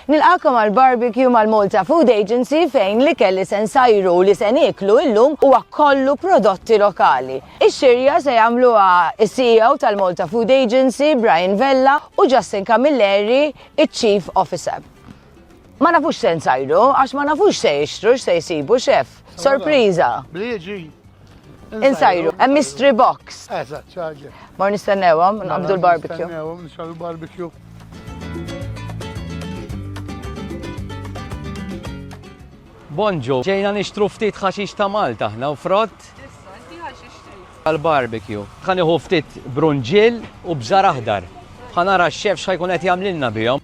Nilqakom għal barbecue mal-Malta Food Agency fejn l-ikel li se nsajru u li se nieklu illum huwa kollu prodotti lokali. Ix-xirja se jagħmluha s-CEO tal-Malta Food Agency, Brian Vella, u Justin Camilleri, iċ-Chief Officer. Ma nafux x'se nsajru għax ma nafux x'se jixtru, x'se jsibu, Chef. Sorpriża! Bli jiġi! Insajru, hemm mystery box. Eżatt, ċaġi. Mar nistennewhom, nqabdu l-barbecue. Nistennewhom, nixal l-barbecue. Bonġu, ġejna nixtru ftit ħaxix ta' Malta ħna u frott. Għal-barbecue. Kan iħu ftit brunġil u bżar aħdar. Ħanara x-xef xħajkun qed jagħmlilna bihom.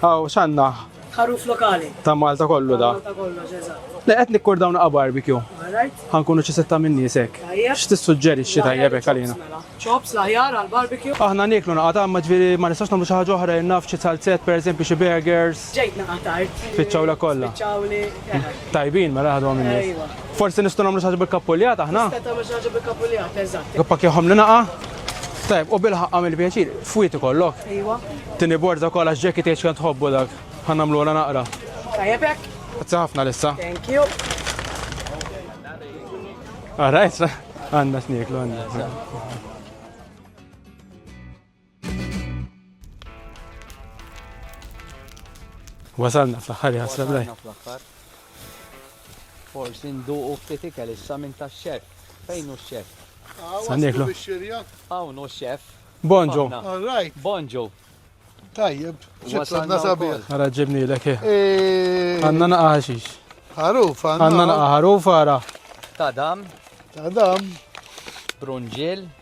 Aw, x'għandna? Ħaruf lokali. Ta' Malta kollu da. Malta kollox, eżatt. Le qed nikkur dawn naqa' barbecue. Alright. Ħankunu xi sitta minn nies hekk. Tajjeb. X'tissuġġerixxi tajjeb hekk għalina? Mela. Chops l-aħjar għal barbecue. Aħna nieklu naqa' ta' ma ġifieri ma nistgħux nagħmlu xi ħaġa oħra jien naf xi salzett pereżempju xi burgers. Ġejt naqa' tard. Spiċċawlek kollha. Spiċċawli. Tajbin mela ħadhom in-nies. Ejwa. Forsi nistgħu nagħmlu xi ħaġa bil-kappuljat aħna? Nista' tagħmel xi ħaġa bil-kappuljat, eżatt. Għappakjahom li naqa'. Tajb, u bil-ħaqqa mill-pjaċir, fwiti kollok. Iwa. Tini borza kol għax ġekki tieċ kan tħobbu dak. Ħanna mlu għala naqra. Tajabek. Għazza ħafna lissa. Thank you. Għarajt, għanna sniklu għanna. Wasalna fl-aħħar jasra blej. Forsi nduqu ftit ikel issa minn tax-xef. Fejn hu x-xef? Sanniklu. Hawn hu x-xef. Bonġu. Bonġu. Tajjeb, wasalna sabiħ. Ara ġibni l-ek. Eh. Eh. Għanna naqa ħaxix. Ħarufa. Għanna naqa ħarufa ara. Tadam. Tadam. Brunġil.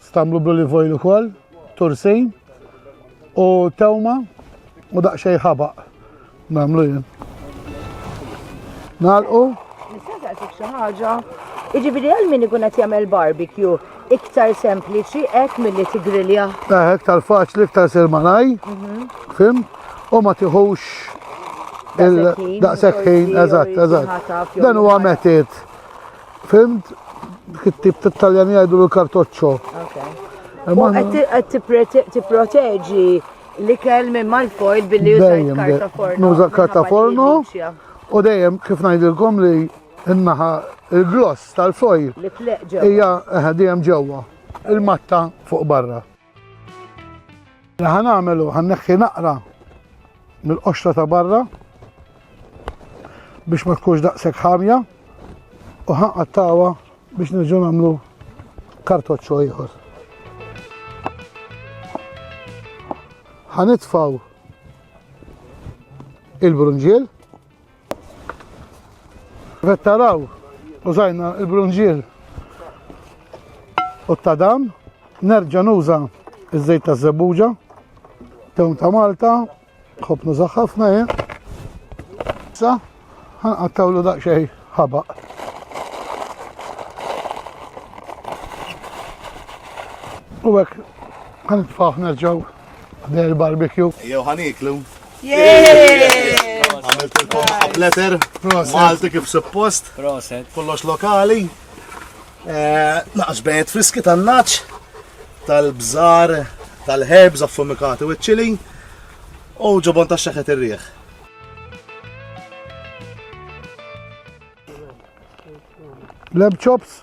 Stamlu bl-olive oil ukoll, tursin u tewma u daqsxejn ħabaq. Nagħmlu jien. Nagħlqu. Nista' saqsik xi ħaġa. Jiġifieri għal min ikun qed jagħmel barbecue iktar sempliċi hekk milli tigrilja. Eh, iktar faċli, iktar sir malaj. Mhm. Fim? U ma tiħux il-daqsekħin, eżatt, eżatt. Dan huwa metit Fimt? Dik it-tip ta' Taljan jgħidu l-kartoċċo. Qed tipproteġi l-ikel minn mal-foil billi jużajt karta forno. Nuża karta forno u dejjem kif ngħidilkom li n-naħa il-gloss tal-foil hija eh, dejjem ġewwa il-matta fuq barra. Li ħan għamelu, ħan neħħi naqra mill-qoxra ta' barra biex ma tkunx daqshekk ħamja u ħanqattawa biex nerġgħu nagħmlu kartoċċo ieħor. Ħanitfaw il-brunġiel Qed taraw użajna l-brunġier u t-tadam, nerġa' nuża ż-żejt ta' żebbuġa, tewn ta' Malta, ħobb nuża ħafna jien. Sa ħanqattawlu daqsxejn ħabaq. U hekk ħanitfgħu nerġgħu ħdej il-barbecue. Jew ħaniklu. Għamilt il-kom up letter, Malti kif suppost, kollox lokali. Eh, naqx bejt friski tan-naċ, tal-bżar, tal-herbs affumikati u ċili, u ġobon ta' xeħet ir-rieħ. Lab chops,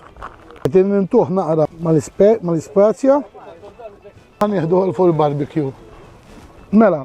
għetin nintuħ naqra mal-ispazja, għan jihdu għal full barbecue. Mela,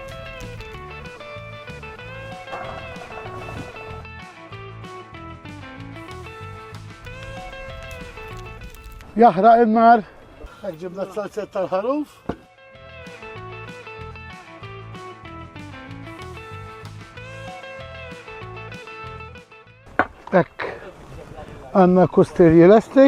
Jaħraq in-nar. Hekk ġibna t-salzetta tal-ħaruf. Hekk għandna kustirji lesti.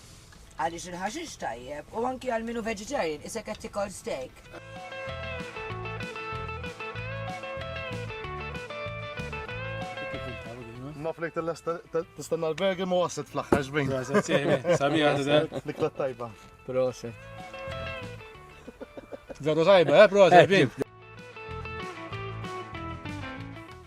Għaliex il-ħaxix tajjeb u anki għal minu vegetarian isek qed tikol steak. Naf li tistenna l-bergi ma wasit fl-axħar ġbin. Sabi għadda. Nikla tajba. Proset. Għadu tajba, eh, proset, eh, bin.